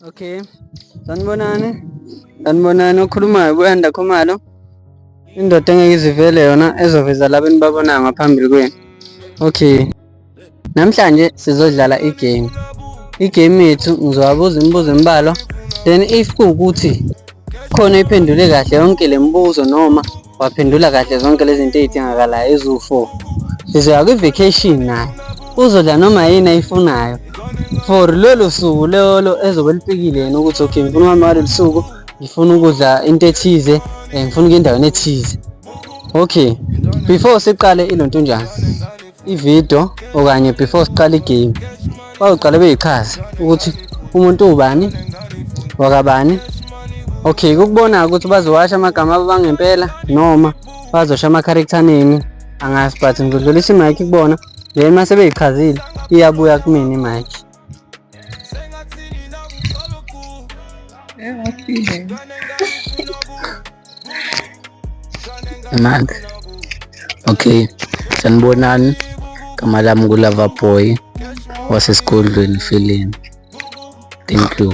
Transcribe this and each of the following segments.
Okay. Sanibonani. Sanibonani okhulumayo kuyanda khumalo. Indoda engeke izivele yona ezoveza laba enibabonayo ngaphambili kwenu. Okay. Namhlanje sizodlala igame. Igame yethu ngizowabuza imibuzo embalwa then if kuwukuthi khona iphendule kahle yonke le mibuzo noma waphendula kahle zonke lezi zinto ezidingakalayo eziwu-4 sizoya kwi-vacation naye uzodla noma yini ayifunayo for lolo suku lolo ezobe lipikile yena ukuthi okay ngifuna uhambe ngalolu suku ngifuna ukudla into ethize um ngifuna ukuya endaweni ethize okay before siqale ilontunjana ividiyo okanye before siqala igame bazoqale beyichaze ukuthi umuntu ubani wakabani okay kukubona ukuthi bazowasha amagama abo bangempela noma bazosha ama-character nini angazi but ngizodlulisa imike kubona then uma sebeyichazile iyabuya kumina imike Mad. Okay. Sanibonani. Kama lami kulava boy wasesigodlweni feeling. Thank you.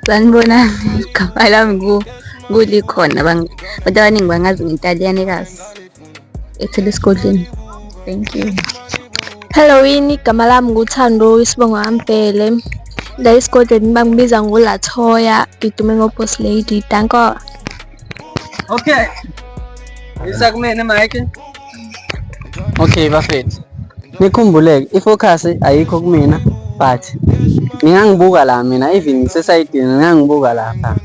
Sanibonani. Kama lami ku kulikhona abantu abaningi bangazi ngentaliyane kazi. ethela esigodleni thank you hello yini igama lami nguthando isibongo ambhele la esigodlweni bangibiza ngolathoya ngidume ngoboss lady danko okay isa kumene mike okay bafethu nikhumbuleke ifocus ayikho kumina but ngingangibuka la mina even ngisesayidini ngingangibuka lapha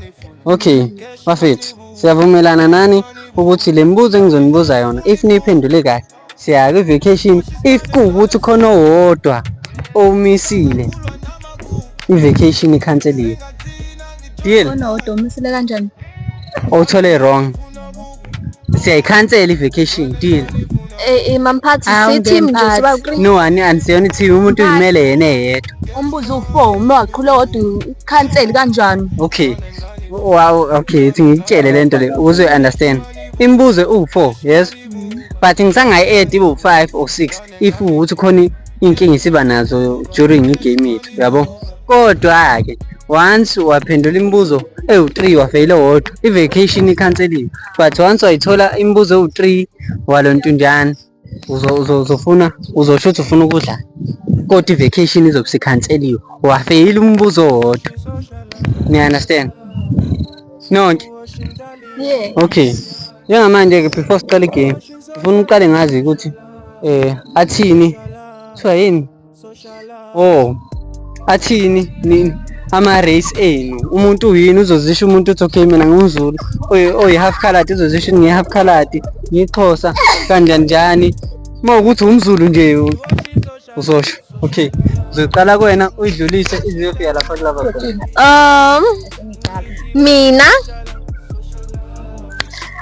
Okay, bafethu siyavumelana nani ukuthi le mibuzo engizonibuza yona if niyiphendule kahle siya kwi-vacation if kuwukuthi khona owodwa omisile i-vacation ikhanseliwe deal khona wodwa umisile kanjani owuthole wrong siyayikhansela i-vacation deal Eh, eh mamphathi Awu, sithi mnje ngemphathi. siba uqini. no ani anisiyona i-team umuntu uyimele yena eyedwa Umbuzo u4 uma waqhula kodwa ukhanseli kanjani? okay wow okay ithi ngikutshele le nto le ukuze uyi-understand imibuzo iwu-four yes but ngisangayi-edi iwu-five or six if ukuthi khona inkinga isiba nazo during igame yethu yabo kodwa-ke once waphendula imibuzo ewu-three wafeyile wodwa i-vacation ikhanseliwe but once wayithola imibuzo ewu-three walo ntunjana uzofuna uzosho ukuthi ufuna ukudlala kodwa i-vacation izobe sikhanseliwe wafeyile umbuzo wodwa niya-understand nonke okay njengamanje-ke before siqale igame ngifuna uqale ngazi ukuthi Eh athini? Kuthiwa yini? Oh. Athini nini? Ama race enu. Umuntu uyini uzozisho umuntu uthi okay mina ngumzulu. Oy oy half colored uzozisho ngi half colored. Ngixhosa kanjani njani. Uma ukuthi umzulu nje Uzosho. Okay. Uzoqala kuwena uyidlulise ize yofika lapha kulaba khona. Um mina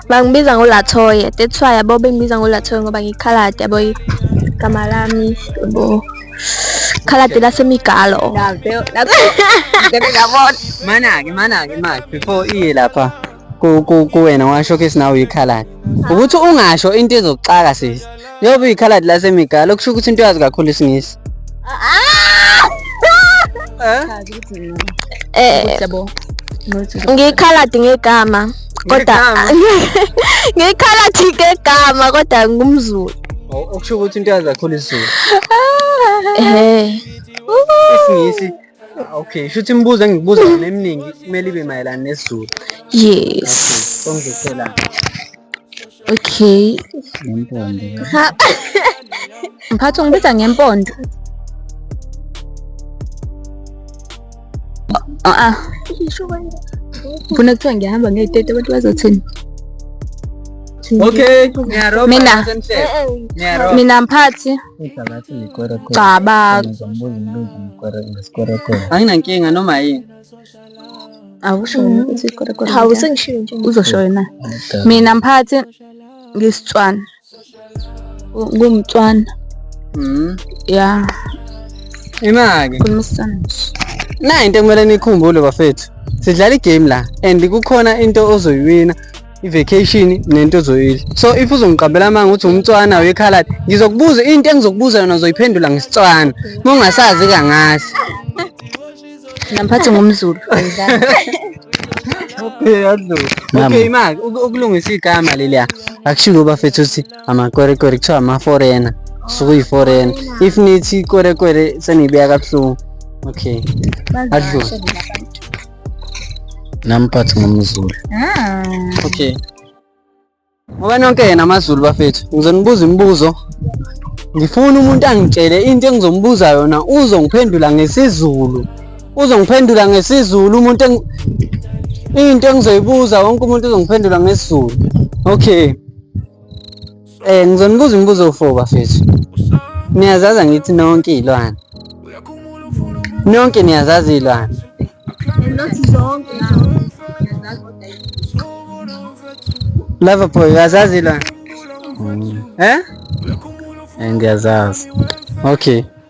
bangibiza ngoLathoye that's why yabo bengibiza ngoLathoye ngoba ngikhalade yabo igama lami yabo khalade lasemigalo Ngeke ngabona. Mana-ke mana-ke manje before iye lapha. kuwena washo ke sinawe uyikhaladi ukuthi ungasho into ezokuxaka sisi njengoba uyikhaladi lasemigalo kusho ukuthi into yazi kakhulu isingisi eh ngikhaladi ngegama kodwa ngikhaladi ngegama kodwa ngumzulu oh, okusho ukuthi into yazi kakhulu isizulu eh isingisi Okay, shuthi imibuzo engikubuza mina eminingi kumele ibe mayelana nesiZulu. Yes. Songizethela. Okay. Ngempondo. Mphathi ungibiza ngempondo. Ah ah. Funa kuthiwa ngihamba ngeyitete abantu bazothini? Okay, ngiyarobha. Mina. Ngiyarobha. Mina mphathi. Anginankinga noma yini. Awusho ukuthi ikwerekwe. Hawu sengishiyo nje. Uzosho wena. Mina mphathi ngisitswana. Ngumtswana. Mhm. Ya. Imake. Kumisana nje. Nayi into ekumele nikhumbule bafethu. Sidlala igame la and kukhona into ozoyiwina i-vacation nento ozoyidla so if uzongiqambela amanga ukuthi umtswana wekhaladi ngizokubuza into engizokubuza yona uzoyiphendula ngesitswana uma ungasazi kangasi namphathi ngumzulu okay maki ukulungisa igama leliya akushiwo ubafethu ukuthi amakwerekwere kuthiwa amaforena sukuyiforena if nithi ikwerekwere seniyibeka kabuhlungu okay adlule namphathi ngomzulu ah. okay ngoba nonke yena amazulu bafethu ngizonibuza imibuzo ngifuna umuntu angitshele into engizombuza yona uzongiphendula ngesizulu uzongiphendula ngesizulu umuntu into engizoyibuza wonke umuntu uzongiphendula ngesizulu okay Eh ngizonibuza imibuzo u4 bafethu. Niyazazi angithi nonke izilwane. Nonke niyazazi izilwane. Lava boy uyazazi izilwane? Mm. Eh? Eh ngiyazazi. Okay.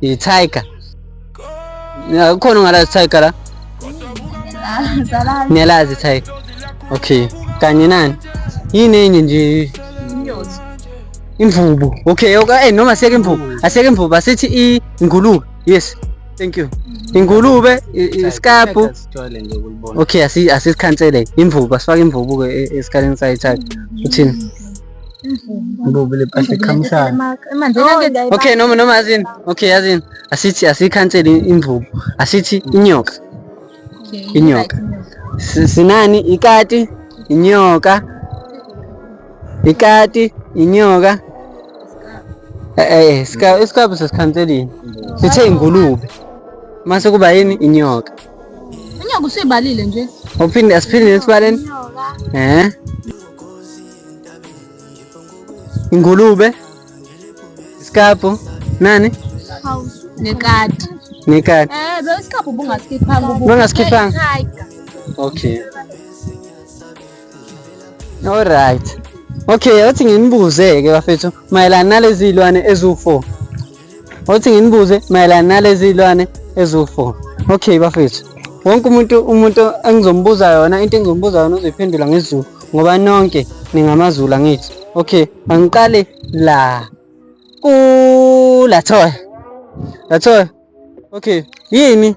Ithayika. Kukhona ongalazi ithayika la? Ah, Niyalazi ithayika. Okay. Kanye nani? Yini enye nje? Inyosi. Imvubu. Okay, okay, eh, noma asiyeke imvubu. Asiyeke imvubu, asithi i ngulube. Yes. Thank you. Mm-hmm. Ingulube, isikabhu. Okay, asi asikhansele. Imvubu, asifake imvubu ke e, esikhaleni sayithatha. Mm-hmm. Uthini? Ibubu lepahla ekhamshana. Okay noma noma yazini. Okay yazini. Asithi asikhansele imvubu. Asithi inyoka. Inyoka. Sinani ikati, inyoka. Ikati, inyoka. Eh eh sika isikhabu sesikhanselini. Sithe ingulube. Mase kuba yini inyoka. Inyoka usibalile nje. Uphinde asiphinde esibaleni. Eh. Ingulube, isikabhu, nani? Nekati. Nekati. Eh, lo isikabhu ubungasikhiphanga ubu. Ubungasikhiphanga. Okay. All right. Okay, athi nginibuze ke bafethu mayelana nalezi zilwane eziwu-4. othi nginibuze mayelana nalezi zilwane eziwu-four okay bafethu wonke umuntu umuntu engizombuza yona into engizombuza yona uzoyiphendula ngezulu ngoba nonke ningamazulu angithi okay angiqale la kulathoya lathoya okay yini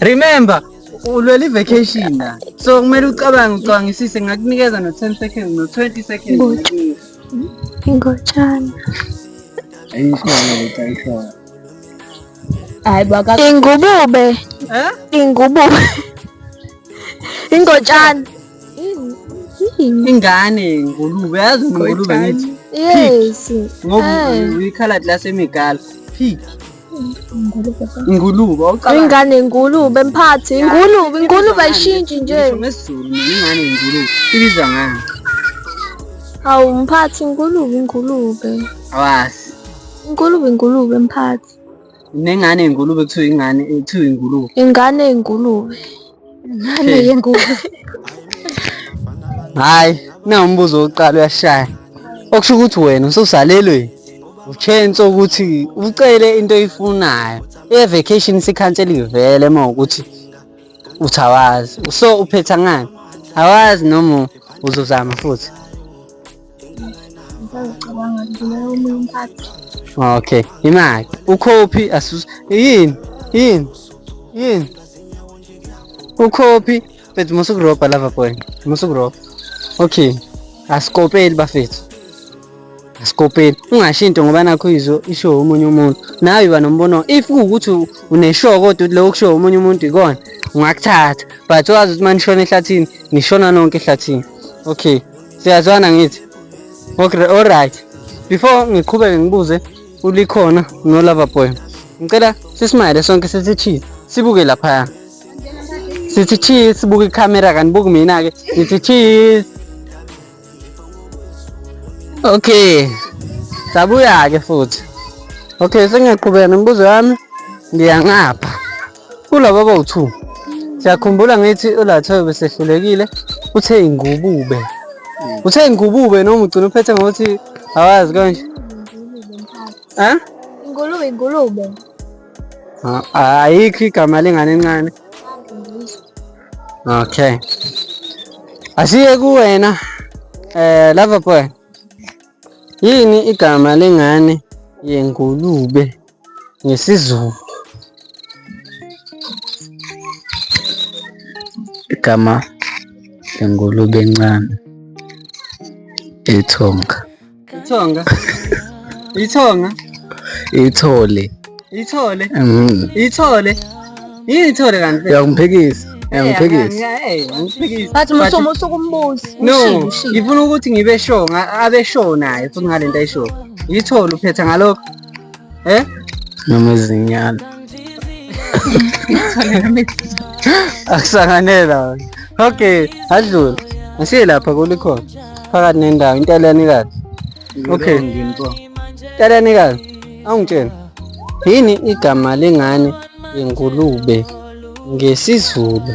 Remember, ulwela i-vacation la. So kumele ucabange ucabangisise ngakunikeza no 10 seconds no 20 seconds. Ngotshana. Ayishona ukuthi ayishona. Hayi baka ingubube. Eh? Ingubube. Ingotshana. Ingane ngulube yazi ngulube ngithi. Yes. Ngoba eh. uyikhala lasemigala. Pig. Ingulube. Ingane ingulube mphathi. Ingulube, ingulube ayishintshi nje. NgesiZulu ingane ingulube. Ibizwa ngani? Hawu mphathi ingulube ingulube. Awazi. Ingulube ingulube mphathi. Nengane ingulube kuthiwa ingane kuthiwa ingulube. Ingane ingulube. hayi na umbuzo wokuqala uyashaya okusho ukuthi wena ususalelweni uchance ukuthi ucele into oyifunayo evacation sikhansela ivele uma ukuthi uthi awazi so uphetha ngani awazi noma uzozama futhi Okay, imali ukhophi asus yini yini yini ukhophi mfethu musa ukurobha lava boy musa ukurobha okay asikopeli bafethu asikopeli ungasho into ngoba nakho izo isho omunye umuntu nawe uba nombono if kuwukuthi uneshow kodwa uthi leyo kusho omunye umuntu ikona ungakuthatha but wazi ukuthi uma nishona ehlathini nishona nonke ehlathini okay siyazwana ngithi okay alright before ngiqhubeke ngibuze ulikhona nolava boy ngicela sisimayele sonke sithi cheese sibuke laphaya sithi cheese sibuke ikhamera kanibuki mina-ke ngithi cheese okay sabuya-ke futhi okay sengiyaqhubeka nemibuzo yami ndiya ngapha Kulaba bawu-2 siyakhumbula ngithi uLathoyo besehlulekile uthe ingubube hmm. uthe ingubube noma ugcina uphethe ngokuthi awazi konje ha ingulube ingulube ayikho igama lengane encane okay asiye kuwena eh lava boy yini igama lengane yengulube ngesiZulu igama lengulube encane ithonga ithonga ithonga ithole ithole mm. ithole yini ithole kanti uyakungiphikisa uyakungiphikisa but musomo usukumbuza no ngifuna ukuthi ngibe sure abe sure naye futhi ngalento ayishoyo yithole uphetha ngalokho eh noma izinyana akusanganela okay adlule asiye lapha kulikhona phakathi nendawo intaliyani kahle okay intaliyani kahle awungitshela yini igama lengane yengulube ngesizulu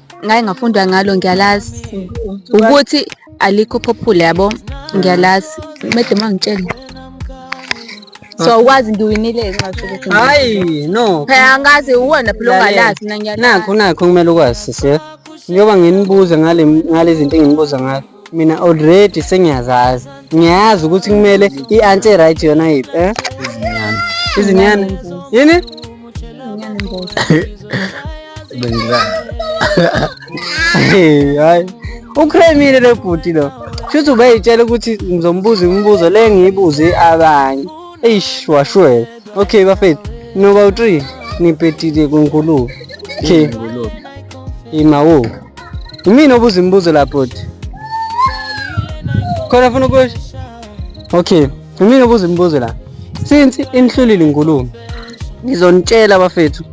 ngaye ngafunda ngalo ngiyalazi ukuthi alikho popular yabo ngiyalazi mede mangitshele so ukwazi ngiwinile nxathi ukuthi hayi no phela angazi uwena phela ongalazi mina ngiyalazi nakho nakho kumele ukwazi sisi njengoba nginibuze ngale ngale zinto enginibuza ngazo mina already sengiyazazi ngiyazi ukuthi kumele i-anti e-right yona yiphi eh? izinyane yini hayi ukremile lo bhuti lo shuthi ubeyitshela ukuthi ngizombuza imibuzo le ngiyibuze abanye eish washwela okay bafethu noba u-three nipetile kunkulubi okay imawo Yimina obuza imibuzo la bhuti. Khona ufuna ukusho? Okay. Yimina obuza imibuzo la. Since inihlulile inkulumo. Ngizonitshela abafethu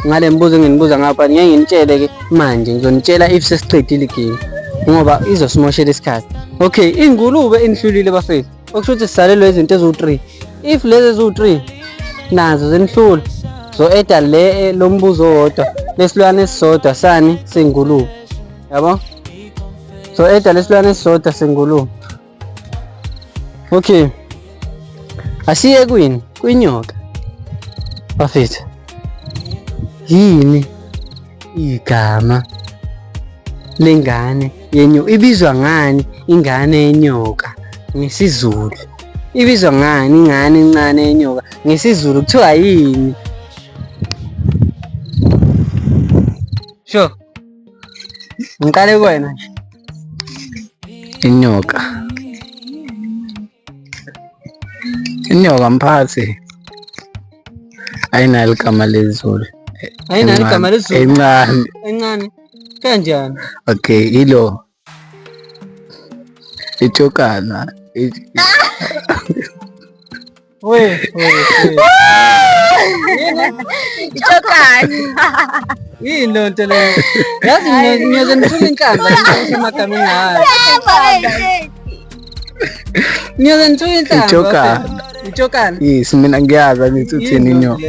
ngale mibuzo enginibuza ngapha ngeke nginitshele ke manje ngizonitshela if sesiqedile igame ngoba izosimoshela isikhathi. Okay, ingulube inihlulile bafethu. okusho ukuthi sisalelwe izinto eziwu-3 if lezi eziwu-3 nazo zenihlula zo-eda le eh, lo mbuzo owodwa lesilwane esisodwa sani sengulube yabo zo-eda lesilwane esisodwa sengulube okay asiye kwini kwinyoka bafethu yini igama lengane yenyo ibizwa ngani ingane yenyoka ngesizulu ibizwa ngani ingane encane yenyoka ngesizulu kuthiwa yini sho ngiqale kuwena nje inyoka Inyoka mphathi. Ayinalo igama lezulu. Ayinalo igama lezulu. Encane. Encane. Kanjani? Okay, ilo. Itshokana. We, we, we. Itshokana. Yini loo nto leyo? Yazi ngiyoze ngithule inhlamba ngisho amagameni ayo. Ngiyoze ngithuke inhlamba. Ijokana. Ijokana. Yes, mina ngiyazi angithi uthini inyoka.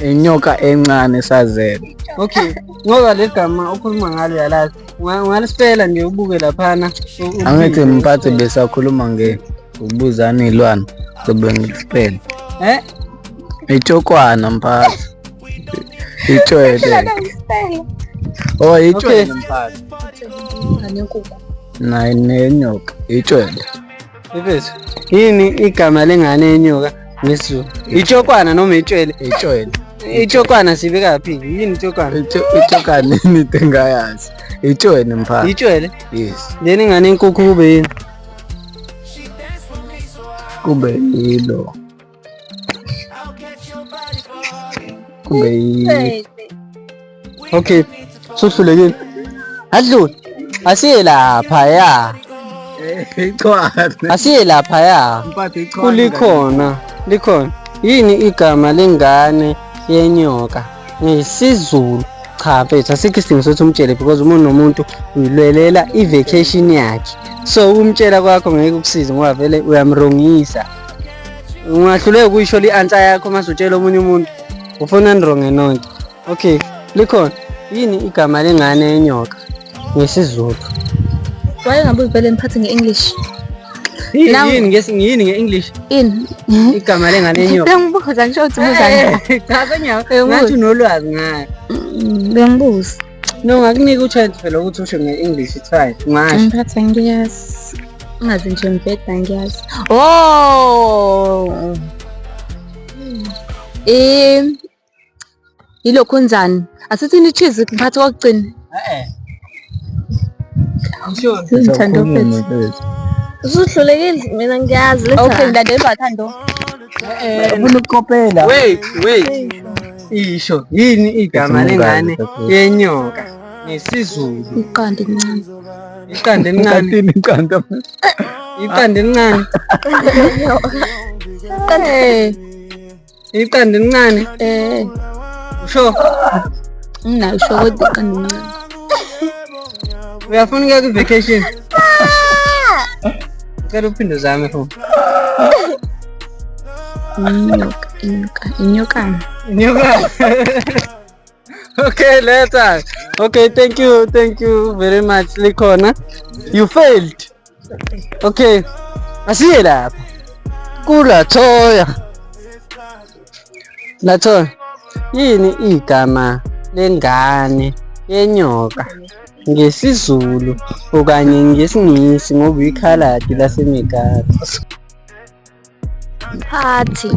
Inyoka encane sazela. Okay, ngoba le gama ukhuluma ngalo yalazi. Ungalisipela nje ubuke laphana. Angithi mphathi besakhuluma nge ukubuzana izilwane sobe ngilisipela. Eh? Ijokwana mphathi. Itshwele. Oh, itshwele mfana. Nayi nenyoka, itshwele. Ifethu, yini igama lengane yenyoka ngesiZulu? Itshokwana noma itshwele? Itshwele. Itshokwana sibeka phi? Yini itshokwana? Itshokwana yini engayazi? Itshwele mfana. Itshwele? Yes. Leni ngane yenkukhu kube yini? Kube yilo. kumbe yi- okay suhlulekile adlule asiye lapha ya asiye lapha ya kulikhona likhona yini igama lengane yenyoka ngisizulu cha mfethu asikho isidingo sokuthi umtshele because umuntu nomuntu uyilwelela i-vacation yakhe so umtshela kwakho ngeke ukusize ngoba vele uyamrongisa ungahluleka ukuyisho li-ansa yakho uma sutshela omunye umuntu ufuna ndrongo enonke okay likhona yini igama lengane yenyoka ngesizulu wayengabe uzibhele mphathi nge-english yini nge-english ini igama lengane yenyoka bengibuza ngisho ukuthi buzangathi unolwazi ngayo mm, bengibuza No, ngakunika uchance phela ukuthi usho nge-English it's fine. Ungasho. Ngiphatha ngiyazi. Ungazi nje mbheda ngiyazi. Oh. Eh yilokhu njani? Asithini cheese ngiphatha kokugcina. Eh. Ngishoni. Sizithanda ofethu. Usuhlulekile mina ngiyazi. Okay, ngidade bathando. Eh, eh. Ufuna ukukopela. Wait, wait. Isho yini igama lengane yenyoka ngesiZulu? Iqanda elincane. Iqanda elincane. Iqanda iqanda. Iqanda elincane. Eh. Iqanda elincane. Eh. Usho. Mina usho kodwa iqanda elincane. Uyafuna ukuya ku-vacation? Ngicela uphinde uzame futhi. Inyoka, inyoka, inyokana. Inyokana. okay, later. Okay, thank you, thank you very much. Likhona. You failed. Okay. Asiye lapha. Kula thoya. Lathoya. Yini igama lengane yenyoka? ngesiZulu okanye ngesiNgisi ngoba ikhaladi laseMegara. Mphathi.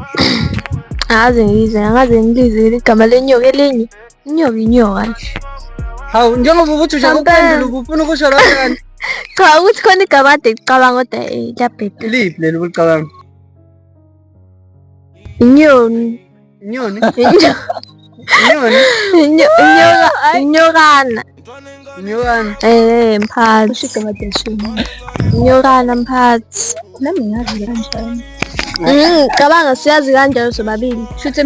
Angaze ngize, angaze ngilizile igama lenyoka elinye. Inyoka inyoka nje. Hawu njengoba ukuthi ushaka ukuphendula ubufuna ukusho lokho kanti. Cha ukuthi khona igama ade ngicabanga kodwa eh liyabheda. Iliphi leli ulicabanga? Inyoni. Inyoni. Inyoni. Inyokana. Inyokana. Eh, mphathi. Ushike amadeshini. Inyokana mphathi. Nami ngazi kanjani. Mm, cabanga siyazi kanjalo sobabili. Shuthi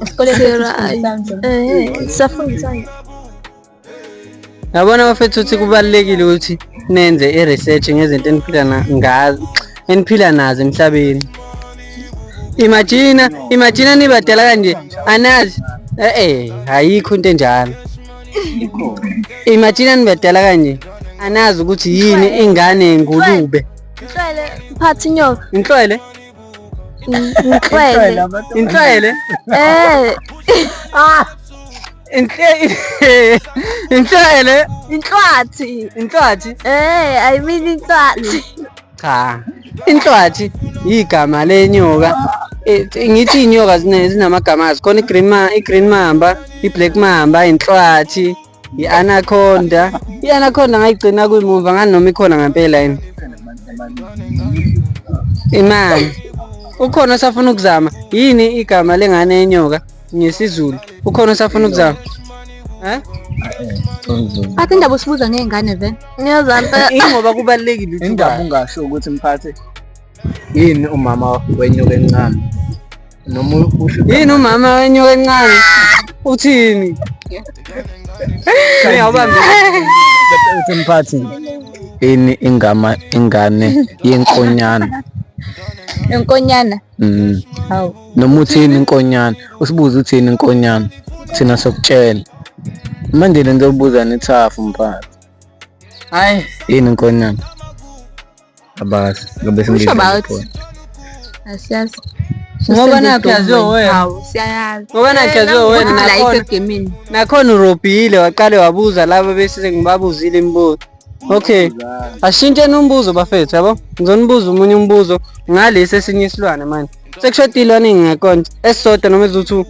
esikoleni safundisana. Eh, safundisana. yabona bafethu ukuthi kubalulekile ukuthi nenze i-research ngezinto eniphila ngazo eniphila nazo emhlabeni imagina imagina nibadala kanje anazi eh, eh ayikho into enjalo imagina nibadala kanje anazi ukuthi yini ingane yengulube inhlwele phatha inyoka inhlwele inhlwele inhlwele eh ah Inhle inhlele inhlwathi inhlwathi eh i mean inhlwathi cha inhlwathi igama lenyoka Eh, ngithi inyoka zine- zinamagama azo khona i-green ma- i-green mamba i-black mamba inhlwathi i-anaconda i-anaconda ngayigcina kuyimumva ngani noma ikhona ngempela yini imani ukhona osafuna ukuzama yini igama lengane yenyoka ngesizulu ukhona osafuna ukuzama eh Phathe indaba usibuza ngey'ngane vele. Ngiyazampa. ingoba kubalulekile ukuthi indaba uba- ungasho ukuthi mphathe yini umama wenyoka encane noma usho yini umama wenyoka encane uthini Ngiyawubamba. uthi mphathi yini ingama ingane yenkonyana Inkonyana. mm Hawu. noma uthini inkonyana usibuze uthini inkonyana thina sokutshela manje le nto yokubuza nithafu mphakathi hayi yini inkonyana abazi ngobe Usho singizwa about? ikhona. asiyazi Ngoba nakhe yaziwa wena. hawu siyayazi Ngoba nakhe yaziwa wena, Kodwa la nakhona. isegemini nakhona urobhile waqale wabuza laba bese sengibabuza imibuzo Okay. Ashintsheni umbuzo bafethu yabo. Ngizonibuza umunye umbuzo ngalesi esinye isilwane manje. Sekushoda ilwane ngekont esisodwa noma eziwu-2.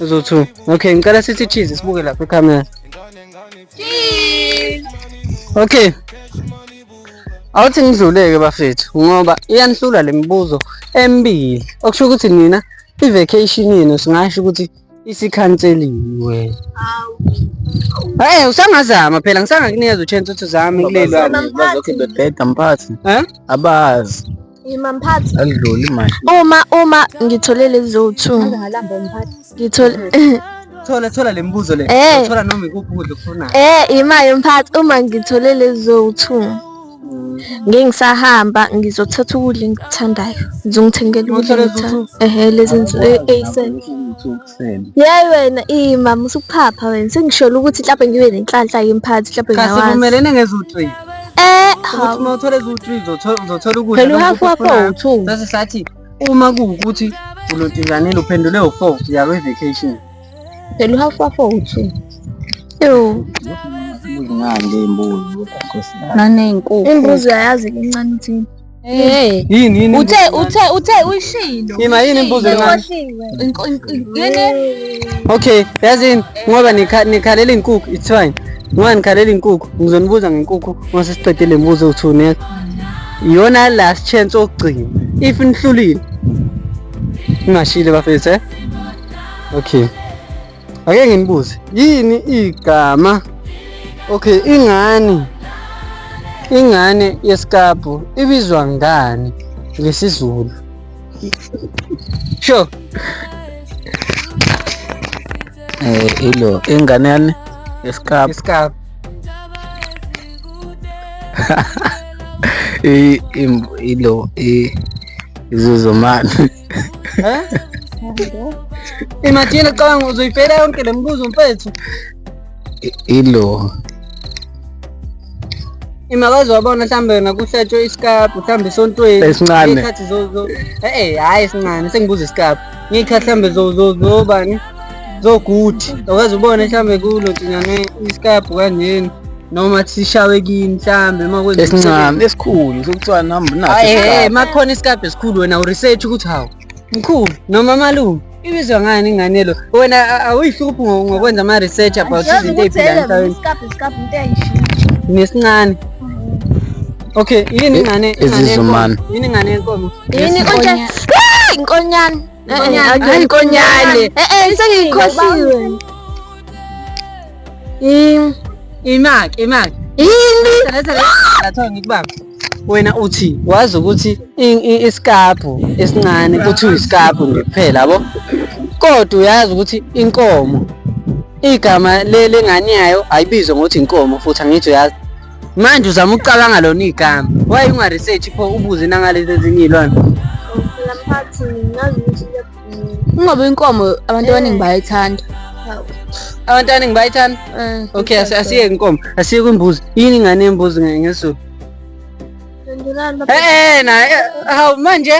Eziwu-2. Okay, ngicela sithi cheese sibuke lapha ecamera. Cheese. Okay. Awuthi ngidluleke bafethu ngoba iyanihlula lemibuzo emibili. Okusho ukuthi nina i-vacation yenu singasho ukuthi isikhanseliwe Eh usangazama phela ngisangakunikeza uchance uthi uzame kulelo bazokhe bebheda mphathi eh abazi Ima mphathi alidluli manje Uma uma ngithole lezo 2 ngalamba mphathi ngithole thola thola lemibuzo le eh. thola noma ikuphi ukudla okufunayo eh imaye mphathi uma ngithole lezo 2 ngengisahamba ngizothatha ukudla engikuthandayo ngizongithengela ukudla engikuthandayo ehe lezi nsuku eyisene yayi wena iyi mama usuphapha wena sengisholo ukuthi mhlawumbe ngibe nenhlanhla yemphathi mhlawumbe ngiyawazi kasivumelene ngezo-three eh ukuthi uma uthola eziwu-three uzothola ukudla phela uhafu wakho uwu-two sase sathi uma kuwukuthi ulodinganile uphendule u-four uya kwe-vacation Phela uhafu wafo uthini? Yo. Ngande imbuzi kodwa naney'nkukhu. Imbuzi uyayazi incane uthini? Hey. Yini yini? Uthe uthe uthe uyishilo. Yima yini imbuzi encane? Yini? Okay, yazini ngoba nikhalela inkukhu, it's fine. Ngoba nikhalela inkukhu, ngizonibuza ngenkukhu uma sesiqede le mbuzo uthi uneka. Iyona last chance okugcina. If nihlulile. Ngashile bafethu eh? okay ake nginibuze yini igama okay ingane ingane yesikabhu ibizwa ngani ngesizulu sure eh ilo ingane yani yesikabhu yesikabhu ilo izozomani Eh? Imagine cabanga uzoyifela yonke le mibuzo mfethu. Ilo. Imakazi wabona mhlambe yona kuhlatshwe isikabhu mhlambe esontweni. Esincane. Ngiyikhathi zo zo. Eh eh hayi esincane sengibuza isikabhu. Ngiyikhathi mhlambe zo zo zobani? so good awukwazi ubone mhlawumbe kulo tinyane isikabhu kanjeni noma sishawe kini mhlambe uma kwenza esincane esikhulu sokuthiwa namba naso hayi hey makhona isikabhu esikhulu wena u research ukuthi hawu mkhulu noma malume ibizwa ngani ingane lo wena awuyihluphi ngokwenza ama research about izinto eziphila emhlabeni isikabhu isikabhu into eyishini nesincane Okay, yini ngane? Izizumana. Yini ngane yenkomo? Yini konje? Inkonyane. Hayi inkonyane. Eh eh sengiyikhohliwe. Im imaki imaki. Yini? Letha letha ngikubamba. wena uthi wazi ukuthi isikabhu esincane kuthiwa isikabhu nje kuphela yabo kodwa uyazi ukuthi inkomo igama lengane yayo ayibizwe ngokuthi inkomo futhi angithi uyazi manje uzama ukucabanga lona igama waye ungaresearch pho ubuze nangalezi ezinye ilona phela mphathi ngazi ukuthi ungoba inkomo abantu abaningi bayayithanda abantu abaningi bayayithanda eh, okay asiyeke inkomo asiyeke imbuzi yini ingane yembuzi ngesulu eh, eh naye hawu manje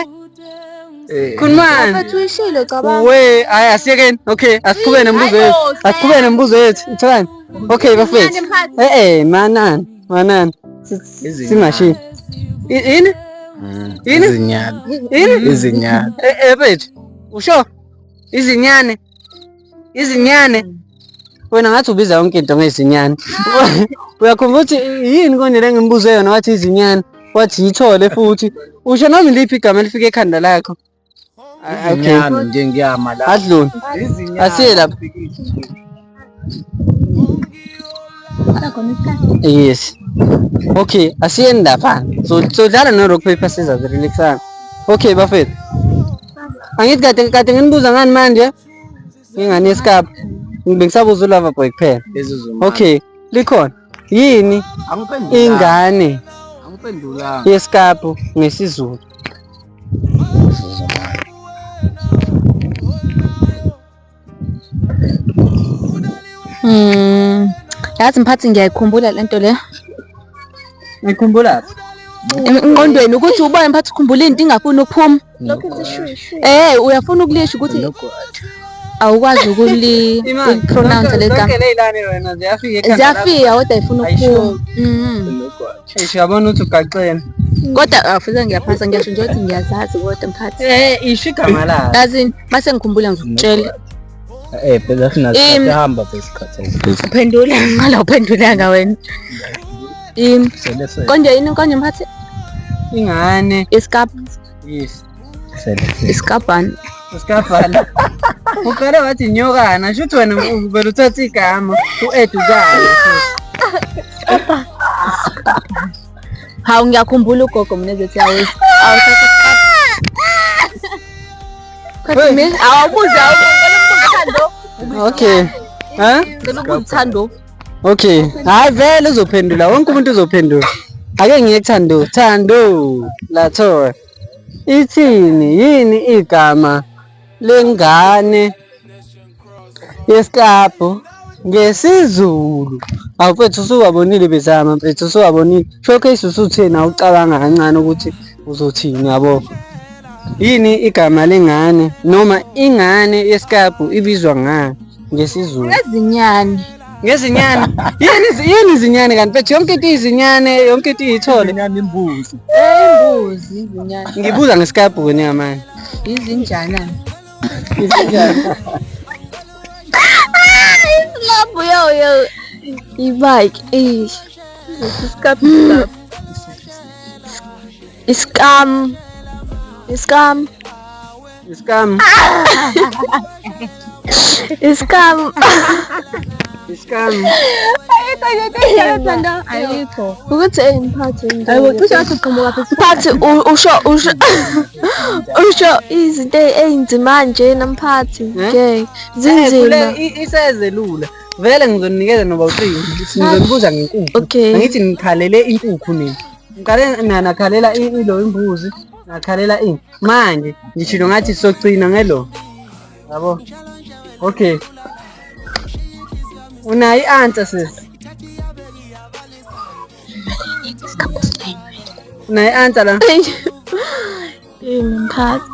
eh. khulumani we hayi asiyekeni okay asiqhubeke nemibuzo yethu asiqhubeke nemibuzo yethu itholani Okay bafethu. Eh eh manan, manan. Singashi. Yini? Mm, Yini? Izinyane. Yini? Izinyane. Eh eh bafethu. Usho? Izinyane. Izinyane. Wena ngathi ubiza yonke into ngezinyane. Uyakhumbula ukuthi yini konje lengimbuzo yona wathi izinyane. Wathi yithole futhi. Usho noma iliphi igama elifika ekhanda lakho? Izinyane nje ngiyama la. Adluni. Izinyane. Asiye lapha. Yes. Okay, asiyeni lapha. So sodlala no rock paper scissors relaxana. Okay bafethu. Angithi kade kade nginibuza ngani manje? Ingane yesikapa. Ngibengisabuza ulava boy kuphela. Okay, likhona. yini ingane yesikapu ngesizulu Mm. Yazi mphathi ngiyayikhumbula lento le. Ngikhumbula. Ingqondweni ukuthi ubone mphathi ukhumbula into ingafuni ukuphuma. lokho lishushwe eh uyafuna ukulisho ukuthi awukwazi ukulipronounce le gama ziyafika kodwa ifuna ukuphuma mm-hmm. eish uyabona ukuthi ugaxele kodwa afuze ah, ngiyaphasa ngiyasho nje ukuthi ngiyazazi kodwa mkhathi eh isho igama layo yazini mase ngikhumbula ngizokutshela eh phela sinasikhathi hamba besikhathi uphendula ngala uphendulanga wena Im. Sele sele. Konje yini konje mphathi? Ingane. Iskap. Yes. Sele sele. Iskapani. Iskapani. Uqale wathi nyokana, shuthi wena uvela uthatha igama, u-edukana. Hawu ngiyakhumbula ugogo mina ezethi awuthi awuthatha iskap. Kodwa mina awubuze awubuze. Okay. Huh? Ngicela ukubuza uthando. Okay. Hayi vele uzophendula. Wonke umuntu uzophendula. Ake ngiye kuthando. Thando. Latho. Ithini yini igama lengane yesiklabhu ngesiZulu? Awu mfethu usuwabonile bezama mfethu usuwabonile. Showcase usuthini awucabanga kancane ukuthi uzothini yabo. Yini igama lengane noma ingane yesiklabhu ibizwa ngani? ngesizulu ngezinyane ngezinyane yini yini izinyane kanti bethu yonke into izinyane yonke into iyithole izinyane imbuzi imbuzi izinyane ngibuza ngesikabhu wena ngamani izinjana izinjana isilabhu yo yo ibike isikabhu Iskam. Iskam. Iskam. Iskam. Iskam. Ayikho. Ukuthi hey mphathi into. Ayibo cishe wathi uqhamuka phezu. Mphathi u- usho usho usho izinto ezinzima nje namphathi. Eh? Ngeke. Zinzima. isezelula vele ngizoninikeza noba ucingo ngizonibuza ngenkukhu Okay. angithi ngikhalele inkukhu mina ngikale mina nakhalela ilo imbuzi nakhalela ini manje ngishilo ngathi socina ngelo yabo okay unayo i-answer sis unayo i-answer la imphathi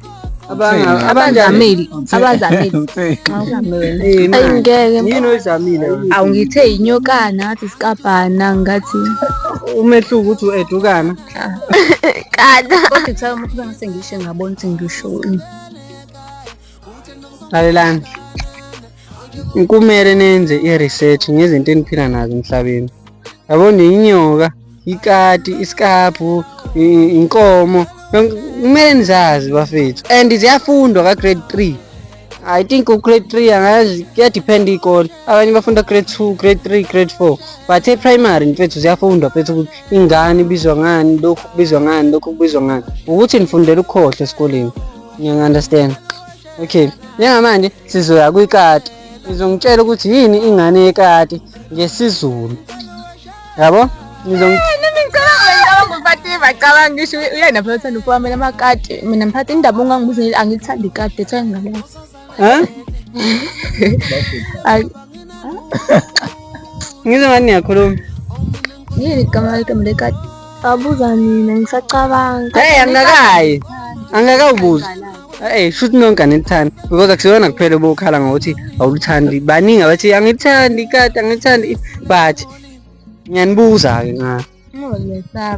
abazamile abazamile ayingeke yini oyizamile awungithe yinyokana ngathi isikabhana ngathi umehluko ukuthi u-edukana kana kodwa kuthiwa umuntu bengase ngisho ngabona ukuthi ngisho ini lalelani Kumele nenze i-research ngezinto eniphila nazo emhlabeni. Yabona inyoka, ikati, isikabhu, inkomo, kumele nizazi bafethu and ziyafundwa ka grade 3. I think grade 3 angazi kuyadepend ikole. Abanye bafunda grade 2, grade 3, grade 4. But e-primary mfethu ziyafundwa mfethu ukuthi ingane ibizwa ngani, lokhu kubizwa ngani, lokhu kubizwa ngani. Ukuthi nifundela ukukhohlwa esikoleni. Ngiya-understand. Okay. Njengamanje sizoya kwikati ngizongitshela ukuthi yini ingane yekati ngesizulu yabo cabanga ngisho uyena phela uthanda ukuwamela amakati mina ngiphatha indaba ungangibuza angithandi ikati ethe ngingalazi ngize ngani niyakhuluma yini igama ligama lekati Abuza mina ngisacabanga. Hey angakayi. Angakawubuza. Hey shuthi nonke anithandi because akusiyona kuphela obokhala ngokuthi awulithandi. Baningi abathi angithandi kade angithandi but ngiyanibuza ke nga.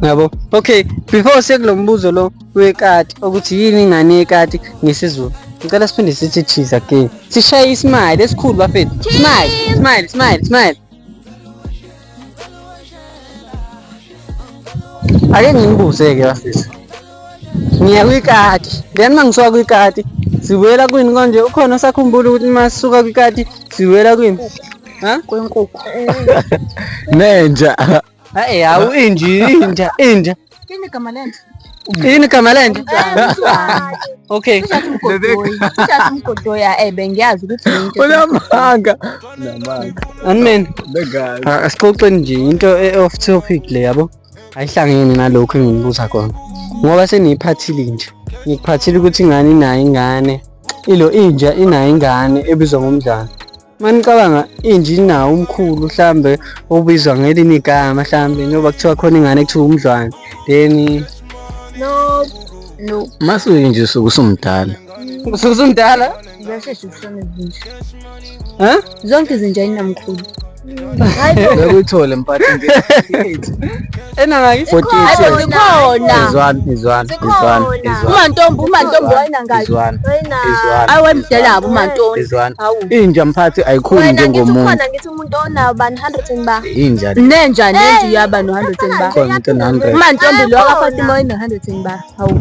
Yabo. Okay, before sekulo mbuzo lo wekati ukuthi yini ingane yekati ngesizulu. Ngicela siphinde sithi cheese again. Sishaye ismile esikhulu bafethu. Smile, smile, smile, smile. ake nginibuze-ke bafethu ngiya kwikati then uma ngisuka kwikati sibuyela kwini konje ukhona osakhumbula ukuthi uma sisuka kwikati sibuyela kwini ha kwenkukhu nenja hayi hawu inja inja inja Ini kama lento. Ini kama lento. Okay. Mkodoya eh bengiyazi ukuthi into. Unamanga. Unamanga. Anmen. Begazi. Ah, asixoxe nje into e off topic le yabo. Ayihlangene nalokho enginibuza khona. Ngoba seniyiphathile nje. Ngikuphathile ukuthi ingane inayo ingane. Ilo inja inayo ingane ebizwa ngomdlalo. manicabanga inje inawo umkhulu mhlambe obizwa ngelinye igama mhlambe njengoba kuthiwa khona ingane kuthiwa umdlwane then no no masuke nje usuke usumdala usuke usumdala ziyashesha ukushona izinja um zonke izinja inamkhulu bekuyithole mphathi enangaki umantombi umantombi wayenangaki ayi wemdelabo umantombi inja mphathi ayikhuli njengomuntu ngithi umuntu onawo bani 100 ba inja nenja nenja uyaba no 100 ba umantombi lo akafatima oyino 100 ba hawu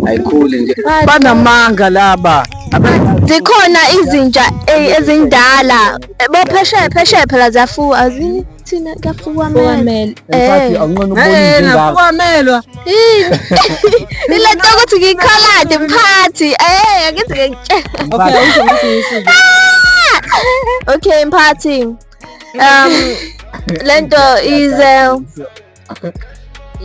ayikhuli nje banamanga laba zikhona izinja eh, ezindala bophesheya phesheya phela ziyafuwa azini thina kuyafuwa mele eh awunqona ukubona izinga melwa ile nto ukuthi ngikhalade mphathi eh angithi ngikutshela okay ah! okay mphathi um lento ize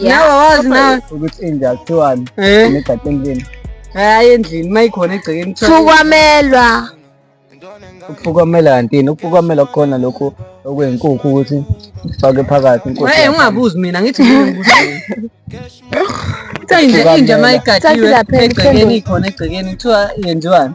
nawe wazi nawe ukuthi inja kuthiwani eh. negade endlini hayi endlini uma ikhona egcekeni phukamelwa ukuphukamela kantini ukuphukamela kukhona lokhu okwenkukhu ukuthi fake phakathi inkukhu hey ungabuzi mina ngithi ngibuza inja uma igadiwe egcekeni ikhona egcekeni kuthiwa yenziwani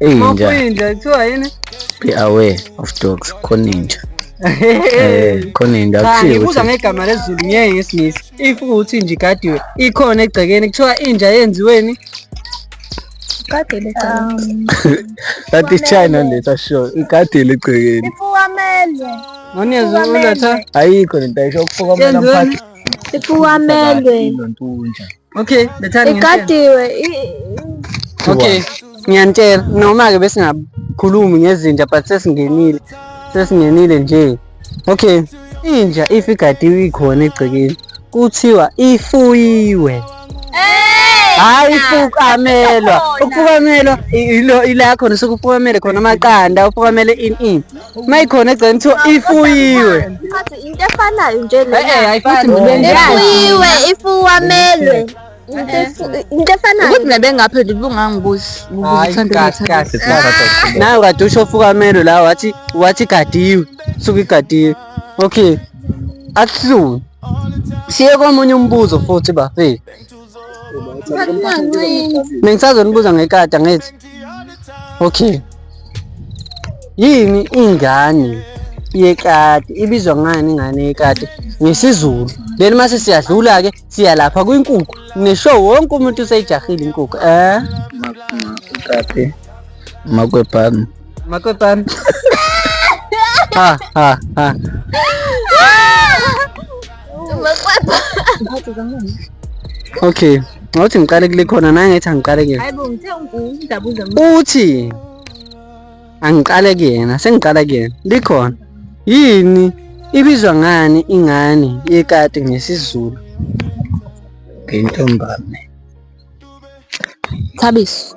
Inja. Inja kuthiwa yini? Be aware of dogs. Khona inja. Eh, khona inja kuthiwa. Ngibuza ngegama lezulu ngeke ngesingisi. If ukuthi nje igadiwe ikhona egcekeni kuthiwa inja yenziweni igadile egcekeni. That is China leta sure. Igadile egcekeni. Ifukamele. Ngonezwe uletha. Ayikho lento ayisho ukufukamela mphathi. Ifukamele. Inja. okay bethani igadiwe okay ngiyanitshela noma-ke besingakhulumi ngezinja but sesingenile sesingenile nje okay inja if igadiwe ikhona egcekeni kuthiwa ifuyiwe hayi fukamelwa ukufukamelwa ilo ila khona sokufukamele khona amaqanda ufukamele ini ini uma ikhona egceni kuthiwa ifuyiwe Ngathi into efanayo nje Eh, eh, lena ayifani. Futhi ngibe njani? ifuyiwe ifuwamelwe Into efu- into efanayo ukuthi nebengaphe libungangibuzi Hayi, kahle, kahle, sibathatha. nayo kade usho fukamelo la wathi wathi igadiwe suke igadiwe okay akuhluni siye komunye umbuzo futhi bafethu Mengisazonibuza ngekati angithi. Okay. Yini ingane yekati ibizwa ngani ingane yekati ngesiZulu. Then mase siyadlula ke siya lapha kwinkukhu. Nesho wonke umuntu useyijahile inkukhu. Eh? Makukati. Makwebhami. Makutan. ha, ha, ha. Okay. Ngawuthi ngiqale kule khona naye ngithi angiqale kuyena. Hayibo ngithe ungidabuza mina. Uthi angiqale kuyena, sengiqala kuyena. Likhona. Yini ibizwa ngani ingane yekati ngesiZulu? Ngentombane. Thabiso.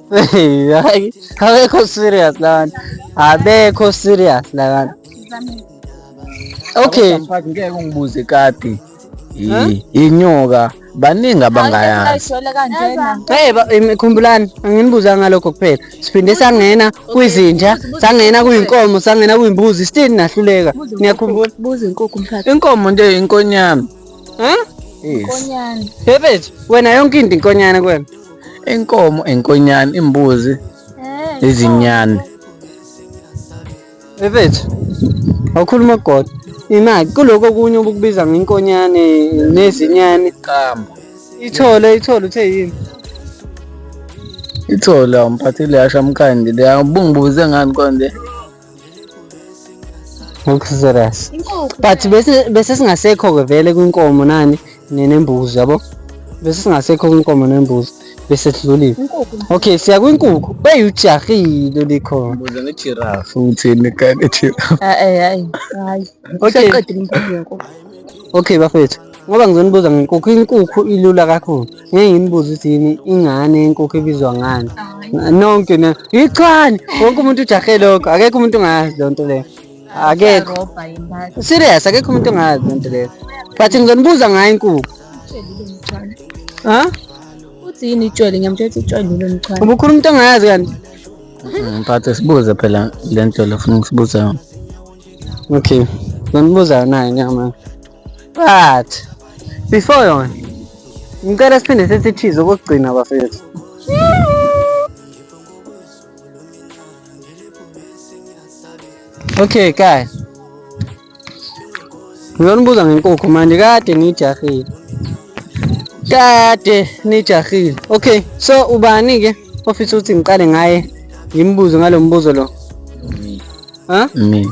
Hayi, abekho serious labantu. Abekho serious labantu. Okay. Mfaki ngeke ungibuze kati. Yi- Inyoka baningi abangayanga. Ayishwele kanjena. Hey, ba- em, khumbulani anginibuza ngalokho kuphela siphinde sangena kwizinja sangena kuyinkomo sangena kuyimbuzi still nahluleka niyakhumbula Buza inkukhu mfaka. Inkomo nje inkonyama. Huh? Yes. Konyana. Bebet, wena yonke into inkonyana kwena. inkomo inkonyane imbuzi eh, izinyane efethu awukhuluma godo imali kuloko okunye obukubiza ngenkonyane nezinyane qamba ithole ithole uthe yini ithole awumphathile yasha mkhandi le ubungibuze ngani konje ngokusizeras but bese bese singasekho ke vele kwinkomo nani nenembuzi yabo bese singasekho kwinkomo nembuzi bese sidlulile okay siya kwinkukhu beyujahile likhona buza ngejiraffe uthini kane jiraffe hayi hayi okay okay bafethu Ngoba ngizonibuza ngenkukhu, inkukhu ilula kakhulu. Ngeke nginibuze ukuthi yini ingane yenkukhu ibizwa ngani. Nonke na ichwane. Wonke umuntu ujahe lokho. Akekho umuntu ongazi loo nto leyo. Akekho. Serious, akekho umuntu ongazi loo nto leyo. But ngizonibuza ngayo inkukhu. Ha? Uthi yini itshwele? Ngiyamtshela ukuthi itshwele lilo mchwane. Ubukhulu umuntu ongazi kanti. Mphathe sibuze phela le nto lofuna ukusibuza yona. Okay. Ngizonibuza nayo nyama. But before yona ngicela siphinde sithi thize okugcina bafethu. Okay guys. Ngiyonibuza ngenkukhu manje kade nijahile. Kade nijahile. Okay, so ubani ke ofisa ukuthi ngiqale ngaye ngimbuze ngalombuzo lo? Ha? Mina.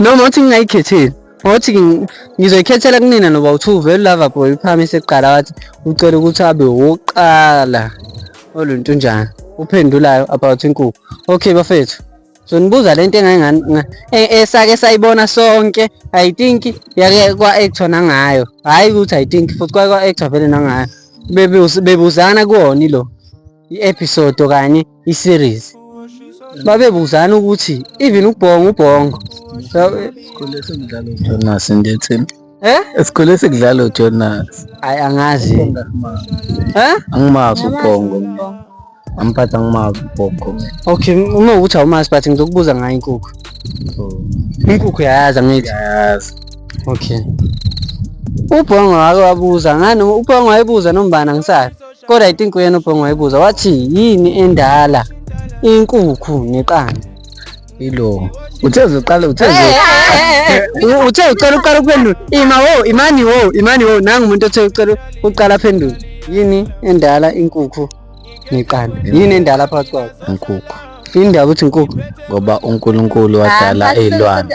noma uthi ngingayikhetheli ngothi ngizoyikhethela kunina noba uthi uvele lava boy uphamise kuqala wathi ucela ukuthi abe wokuqala oluntu njani uphendulayo about inkukhu okay bafethu so nibuza le nto esake e, sayibona sonke i think yake kwa-actor nangayo hhayi ukuthi i think futhi kwa-actor vele nangayo bebuzana kuwona ilo i-episode okanye i-series babebuzana ukuthi even ubhongo ubhongo sikhule sekudlala ujonas ngithi Eh? Esikhule sekudlala uJonas. Hayi angazi. Eh? Angimazi ubhongo. Amphatha angimazi ubhongo. Okay, uma ukuthi awumazi but ngizokubuza ngayo inkukhu. Oh. Inkukhu yayazi angithi. Yayazi. Okay. Ubhongo wake wabuza ngani? Ubhongo wayebuza nombana ngisaphi? Kodwa i think uyena ubhongo wayibuza wathi yini endala inkukhu neqanda. Ilo. Uthe uzoqala uthe uzo- U- Uthe ucela uqala ukuphendula. Ima wo, imani wo, imani wo. Nangu umuntu othe ucela uqala aphendule. Yini endala inkukhu neqanda? Yini endala phakathi kwabo? inkukhu Yini ndaba ukuthi inkukhu? ngoba uNkulunkulu wadala izilwane.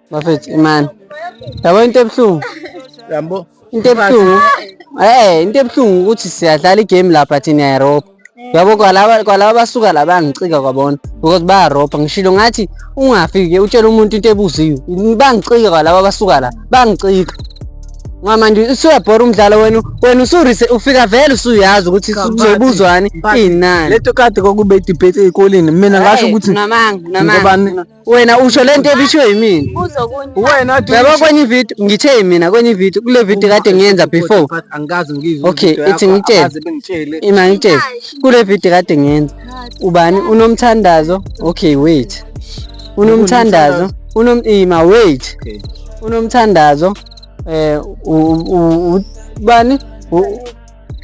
bafethu imani yabo into ebuhlungu yabo into ebuhlungu eh into ebuhlungu ukuthi siyadlala igame lapha thina eRope yabo kwalaba kwalaba basuka la bangicika kwabona because bayaropa ngishilo ngathi ungafike utshela umuntu into ebuziwe bangicika kwalaba basuka la bangicika ngamanje usuyabhora umdlalo wenu wena usurise ufika vele usuyazi ukuthi kuzobuzwani inani leto kade kokube debate ezikoleni mina ngasho ukuthi namanga namanga wena usho le nto ebishiwe yimina wena baba kwenye ivideo ngithe yimina kwenye ivideo kule video kade ngiyenza before angikazi ngizwe okay ithi ngitshele ima ngitshele kule video kade ngiyenza ubani unomthandazo okay wait unomthandazo unom ima wait unomthandazo eh ubani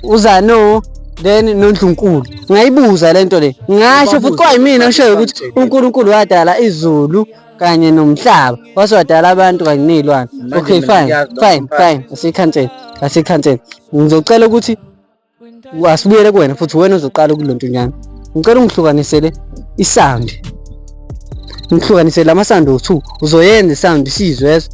uzano then nondlunkulu ngayibuza le nto le ngasho futhi kwayimina oshoyo ukuthi unkulunkulu wadala izulu kanye nomhlaba wase wadala abantu kanye ney'lwane okay fine fine fine asikhansele asikhansele ngizocela ukuthi asibuyele kuwena futhi wena ozoqala ukule nto nyana ngicela ungihlukanisele isound ngihlukanisele amasawundi owu-two uzoyenza isound isizwe ezwa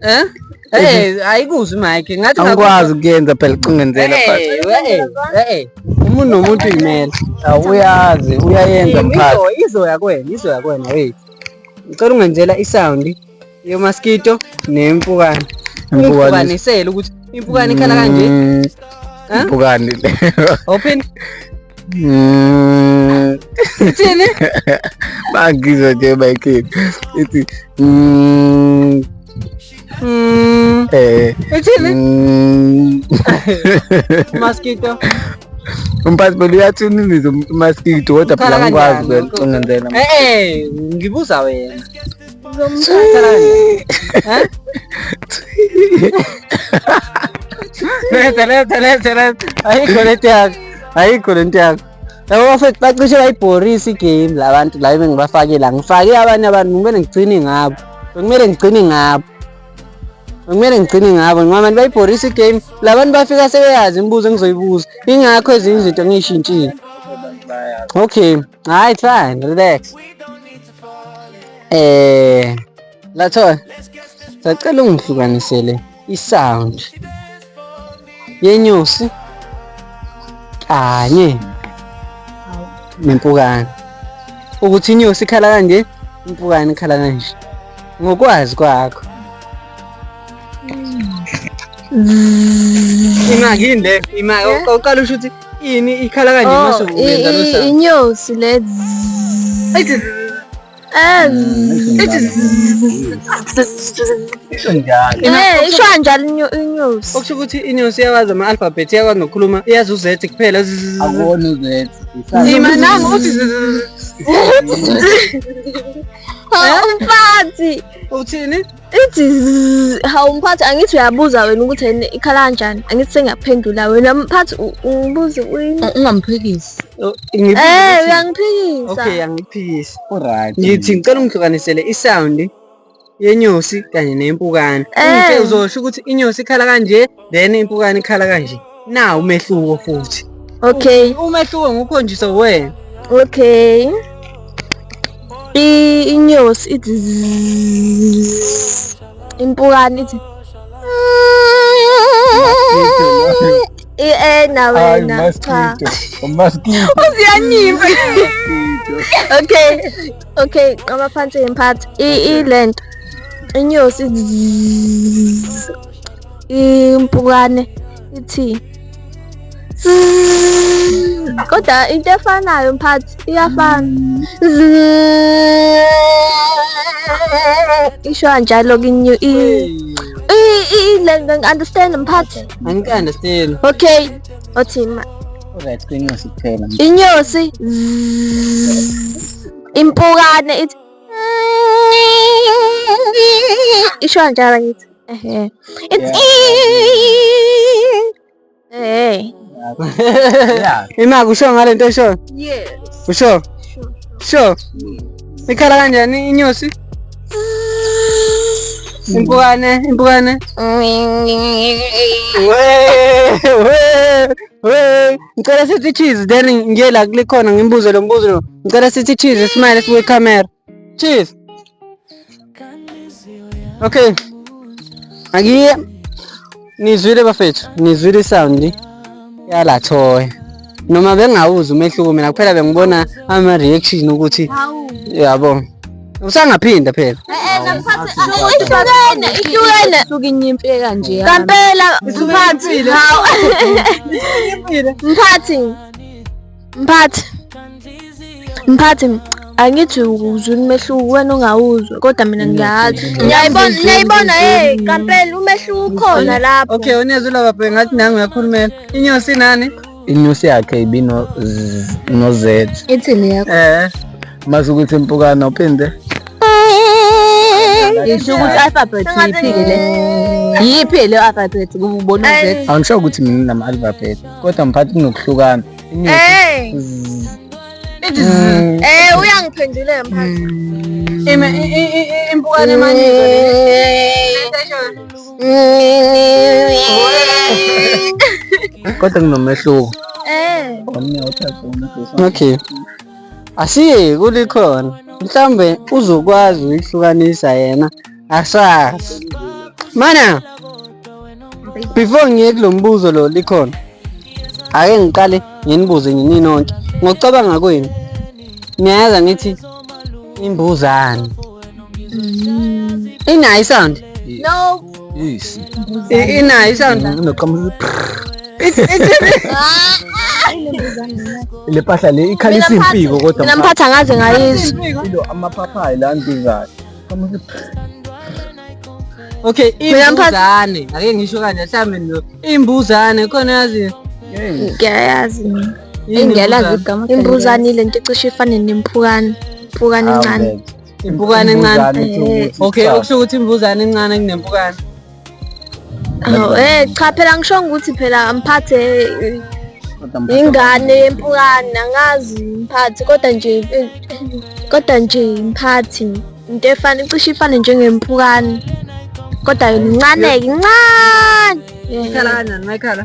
Eh? Eh, ayikuzwi mike. Ngathi ngakwazi ukuyenza phela icingenzela phansi. Eh, eh. Umuntu nomuntu imele. Awuyazi, uyayenza mphathi. Izoya kwena, izoya kwena hey. Ngicela ungenzela isound yomaskito nempukane. Ungihlukanisele ukuthi Impukane ikhala kanje. Mm, Ha? Impukane. Open. Mm, Ithini? Bangizwa nje Michael. Ithi mm, Mm. eh Ithini? mm. Mosquito. Umphathi belo uyathuniniza umuntu umaskito kodwa phela Ukhala ngikwazi kanjani? ukungenzela. Eh eh, ngibuza wena. Leta, leta, leta, leta. Ayikho lento yakho. Ayikho lento yakho. Yabo bafethu bacishe bayibhorisa igame la bantu la bebe ngibafake la. Ngifake abanye abantu kumele ngigcine ngabo. Kumele ngigcine ngabo. Kumele ngigcine ngabo ngoba abantu bayibhorisa igame. La bantu bafika sebeyazi imibuzo engizoyibuza. Ingakho ezinye izinto ngiyishintshile. Okay. Hi, fine, relax. Eh, lathola. Sacela ungihlukanisele i-sound yenyosi kanye nempukane. Ukuthi inyosi ikhala kanje, impukane ikhala kanje. Ngokwazi kwakho. Imaki yini le? Imaki. Uqala usho ukuthi Ini ikhala kanje oh, mase uyenza lo sound. Inyosi le. isho njalo inyosi okusho ukuthi inyosi iyawazi ama-alphabet iyakwazi nokukhuluma iyazi u-z kuphela akuwona u-z nzima nangu uthi umfathi uthini ithi zzz, hawu mphathi angithi uyabuza wena ukuthi yena ikhala kanjani angithi sengiyaphendula wena mphathi u- ungibuze uyini U- ungamphikisi Oh, ngibuza Eh ukuthi- uyangiphikisa okay angiphikisi Alright. ngithi ngicela ungihlukanisele isawundi yenyosi kanye nempukane Eh. Ungitshele uzosho ukuthi inyosi ikhala kanje then impukane ikhala kanje na umehluko futhi okay umehluko ngukhonjiswa wena okay i inyosi ithi impukane ithi Eh na wena cha umaskito uziyanyiza okay okay qaba phansi ngemphathi i lento inyosi impukane ithi kodwa into efanayo mphathi iyafana isho kanjalo kinyu lento ngi-understand mphathi angi-understand okay othi ma right kwinxesi kuphela inyosi impukane ithi isho kanjalo ngithi Ehe. It's Hey. Yeah. Ima kusho ngale nto esho. Yes. Kusho. Sho. Ikhala kanjani inyosi? Impukane, impukane. Ngicela sithi cheese then ngiyela kulikhona ngimbuze lo mbuzo lo. Ngicela sithi cheese smile siwe camera. Cheers. Okay. Angiye nizwile bafethu, nizwile sound yala thoya. Noma bengawuzi umehluko mina kuphela bengibona ama reaction ukuthi yabo. Usangaphinda phela. Ihlukene, ihlukene. Suke inyimpi kanje. Kampela, mphathi. Mphathi. Mphathi. Mphathi angithi uzwini umehluko wena ongawuzwa kodwa mina ngiyazi. Ngiyayibona ngiyayibona hey kampela umehluko ukhona lapho. Okay unezwi laba bhe ngathi nangu uyakhulumela. Inyosi nani? Inyosi yakhe ibino no Z. Ithini yakho? Eh. Mazi ukuthi impukana uphinde. Ngisho ukuthi alphabet yiphile. Yiphi le alphabet kubona Z? Angisho ukuthi mina nama alphabet. kodwa mphathi kunokuhlukana Hey. Eh uyangiphendule mphathi. impukane emaningi kodwa kunomehluko Eh. okay asiye kulikhona mhlambe uzokwazi ukuhlukanisa yena Asa. Mana. Before ngiye kulombuzo lo likhona. Ake ngiqale nginibuze nini nonke. Ngokucabanga kwenu. Niyayazi ngithi imbuzane. Inayi sound? No. Yes. Inayi sound? Noqhamuka. It's it's le mpahla le ikhalisa impiko kodwa mina mphatha ngaze ngayizwa amaphaphayi la ndingayo okay imbuzane ake ngisho kanje mhlawumbe no imbuzane khona yazi ngiyayazi ngiyalazi igama imbuzane le nto icishe ifane nemphukane iphukane encane impukane encane okay okusho ukuthi imbuzane encane kunempukane Oh, eh cha phela ngisho ukuthi phela mphathe ingane yempukane angazi mphathi kodwa nje eh, kodwa nje mphathi into efana icishe ifane njengempukane kodwa yona incane-ke incane ngikhala kanjani ngayikhala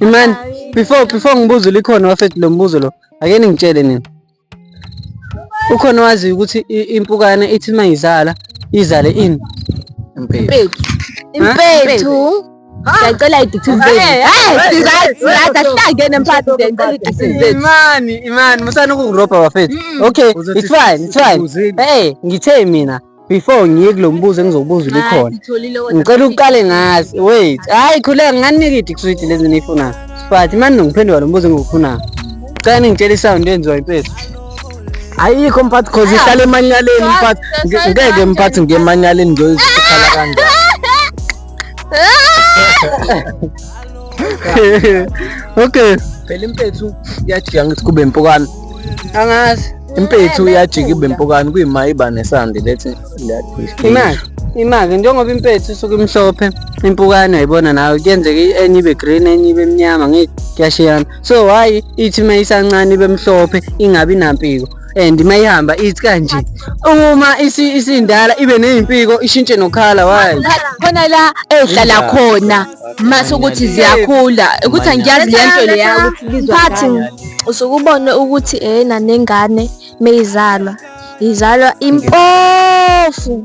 Imani, before before ngibuze likhona wafethu lo mbuzo lo. Ake ningitshele nini. Ukhona wazi ukuthi impukane ithi mayizala izale ini? Impethu. Impethu. Ngiyacela idictive zenu. Hey, sizazi sizazi asihlangene mfana ngiyacela idictive zenu. Imani, imani, musana ukukuropa bafethu. Okay, it's fine, it's fine. Hey, ngithe mina. before ngiye kulo mbuzo engizobuza ulikhona ngicela uqale ngazi wait hayi khuleka nginganika idikiswidi lezi niyifunayo but mani nongiphendula lo mbuzo engiwufunayo cela ningitshela isawundi enziwa impethu ayikho mphathi cause ihlala emanyaleni mphathi ngeke mphathi ngiye emanyaleni ngiyoyizikhala kanjani okay phela impethu iyajika ngithi kube impukane angazi impethu iyajika ibe impukane kuyima iba nesandi lethi imali imali njengoba impethu isuke imhlophe impukane ayibona nawe kuyenzeka enye ibe green enye ibe mnyama ngeke kuyashiyana so why ithi uma isancane ibe mhlophe ingabi nampiko and uma ihamba ithi kanje uma isindala ibe nezimpiko ishintshe nokhala why khona la ehlala khona mase ukuthi ziyakhula ukuthi angiyazi lento leya ukuthi lizophathi usuke ubone ukuthi ehena nengane meyizalwa izalwa impofu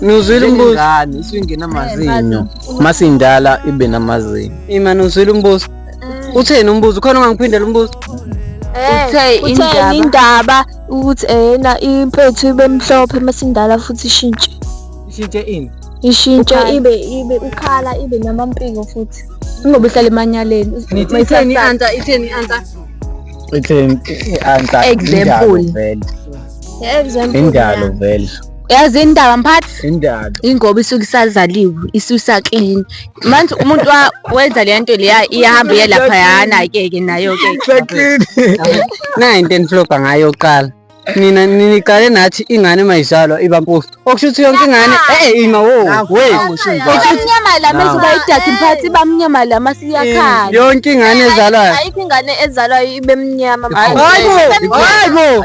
Nuzwile umbuzo. Njengengane isuke ingena amazinyo. Mase indala ibe namazinyo. Ima nuzwile umbuzo. Utheni umbuzo? Khona ungangiphindela umbuzo. Eh, Uthe utheni indaba. indaba ukuthi eyena impethu ibe mhlophe masindala futhi ishintshe Ishintshe ini? ishintshe Ukhala. ibe ibe ukhala ibe namampiko futhi ingoba ihlala emanyaleni Nithi itheni i-answer, itheni i-answer? Itheni i-answer? Example. Indalo vele. example Indalo vele. yazi indaba mphathi indaba ingoba isuke isazaliwe isusa clean manje umuntu wenza le nto leya iyahamba iye lapha yana ke ke nayo ke clean na into enifloga ngayo qala nina niniqale nathi ingane uma izalwa iba mpofu okusho ukuthi yonke ingane eh ima wo weyamnyamala mase bayidakhe mphathi iba mnyama la mase iyakhanya yonke ingane ezalwayo ayikho ingane ezalwayo ibe mnyama hayibo hayibo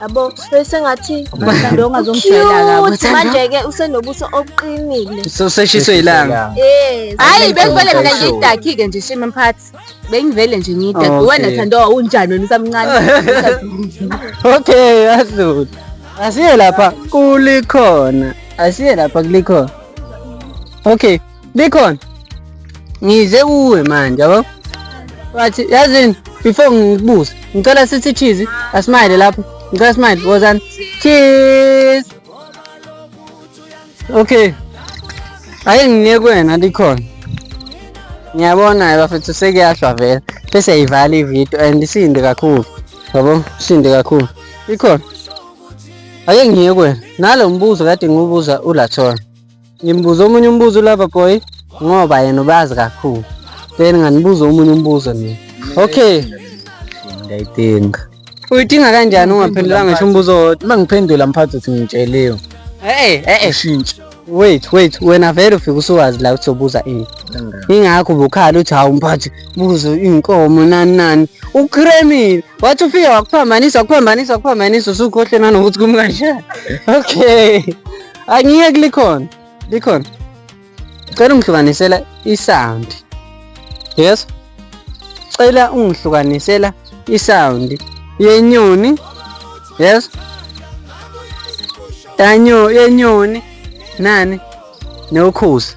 yabo sesengathi mhlawumbe ongazomshayela ukuthi manje-ke usenobuso obuqinile soseshiswe ilanga eh hayi bekuvele mina ngidakhi-ke nje shima mphathi bengivele nje ngidakhi Okay. wena thando unjani wena usamncane okay yadlula asiye lapha kulikhona asiye lapha kulikhona okay Bikhona. Ngize kuwe manje yabo. Wathi yazini before ngikubuze. Ngicela sithi cheese asmile lapho. Ngicela smile wozani. Cheese. Okay. Ayi ngiye kwena likhona. Ngiyabona bafethu sekuyahlwa vele. Bese yivala ivideo and isinde kakhulu. Yabo, isinde kakhulu. Ikhona. Ake ngiye kwena. Nalo mbuzo kade ngiwubuza uLathona. Ngimbuza omunye umbuzo ulava boy ngoba yena ubazi kakhulu. Then nganibuza omunye umbuzo mina. Okay. Ngiyayidinga. Uyidinga kanjani ungaphendulanga ngisho umbuzo wodwa? Uma ngiphendula mphathi uthi ngitsheliwe. Eh eh eh. Ushintshe. wait wait wena vele ufike usuwazi la ukuthi ubuza ini ingakho ubukhala uthi hawu mphathi buzo inkomo nani nani ukremile wathi ufike wakuphambanisa wakuphambanisa wakuphambanisa usukhohle nanokuthi kumkanjani okay angiyeki likhona likhona cela ungihlukanisela isound yes cela ungihlukanisela isound yenyoni yes yanyo yenyoni nani nokhosi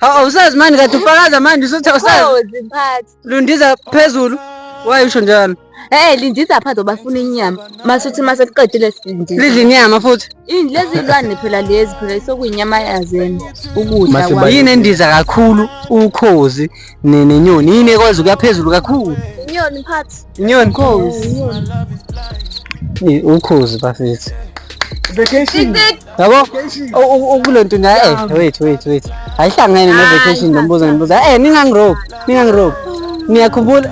Awusazi mani kade ufakaza manje usuthi awusazi. Oh, ziphathi. Lundiza phezulu. Why usho njalo? Eh lindiza phansi ngoba funa inyama. Masuthi mase kuqedile sindiza. Lidla inyama futhi. Yini lezi zilwane phela lezi phela isokuyinyama yazena. Ukudla Mase kwayo. Yini endiza kakhulu ukhozi ne- nenyoni. Yini ekwazi ukuya phezulu kakhulu. Inyoni mphathi. Inyoni Ukhozi. Inyoni. Eh, ukhozi bafethu. Vacation. yabo ukulento na eh wait wait wait ayihlangene ne vacation lombuzo ngibuza eh ningangirope ningangirope niyakhumbula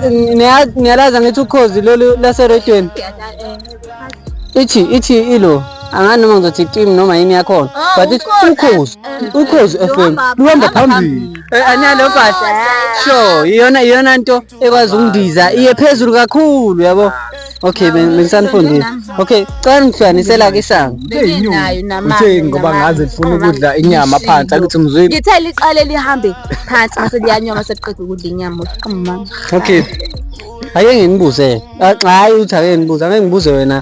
niyalaza ngithi ukhozi lolu lase radioen ithi ithi ilo angani noma ngizothi team noma yini yakhona oh, but ithi ukhozi eh, ukhozi eh, fm luhamba phambili eh, analo bhasha sure iyona iyona nto ekwazi ukundiza iye phezulu kakhulu yabo okay bengisanifundile okay cela ngihlukanisela ke isango uthe ngoba ngaze ngifuna ukudla inyama phansi akuthi mzwini ngithe liqale lihambe phansi mase liyanyoma sekuqeda ukudla inyama uqhuma okay ake nginibuze hayi uthi ake ngibuze ake ngibuze wena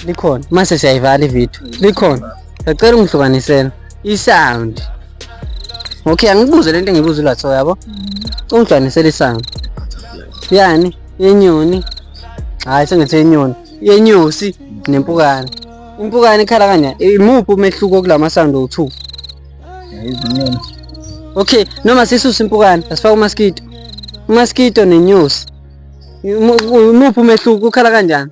likhona mase siyayivala ivideo likhona Ngicela ungihlukanisele i-sound. Okay, angibuze lento engibuza uLatho yabo. Mm-hmm. Ungihlukanisele i-sound. Yani, yenyoni. Hayi sengithi yenyoni. Yenyosi nempukane. Impukane ikhala kanjani? Imuphi umehluko kulama sound owu-2? Izinyoni. Okay, noma sisuse impukane, asifake umaskito. Umaskito nenyosi. Umuphi umehluko ukhala kanjani?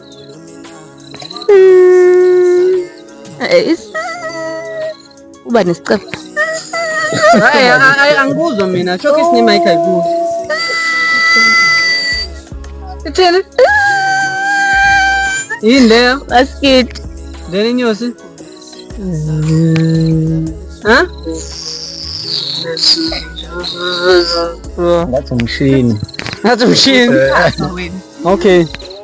uba nesicebo hayi hayi angikuzwa mina shoke isinima ikha ikuzo ithini yini leyo basikiti lena inyosi ha ngathi umshini ngathi umshini okay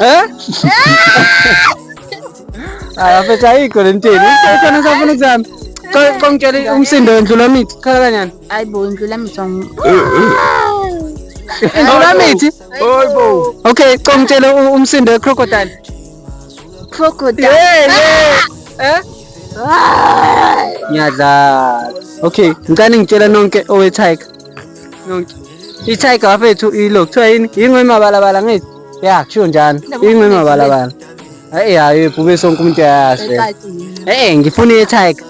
Eh? Ah, phetha ayikho le ntini. Ukhona safuna ukuzama. Qongitshele umsindo wendlula mithi. Khala kanyana. Hayibo indlula mithi. Indlula mithi. Hayibo. Okay, qongitshele umsindo wecrocodile. Crocodile. Yeah, yeah. Eh? Ngiyadlala. Okay, ngicela ngitshela nonke owe tiger. i-tiger wafethu ilo kuthiwa yini yingwe mabalabala ngithi ya kusho njani yingwe mabalabala hayi hayi ebhube sonke umuntu ayayazi e-e ngifuna i-tiger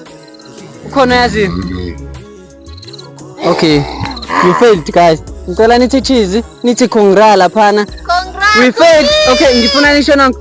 ukhona yaziyo okay you failed guys ngicela nithi cheese nithi congra laphana we failed okay ngifuna nisho nanku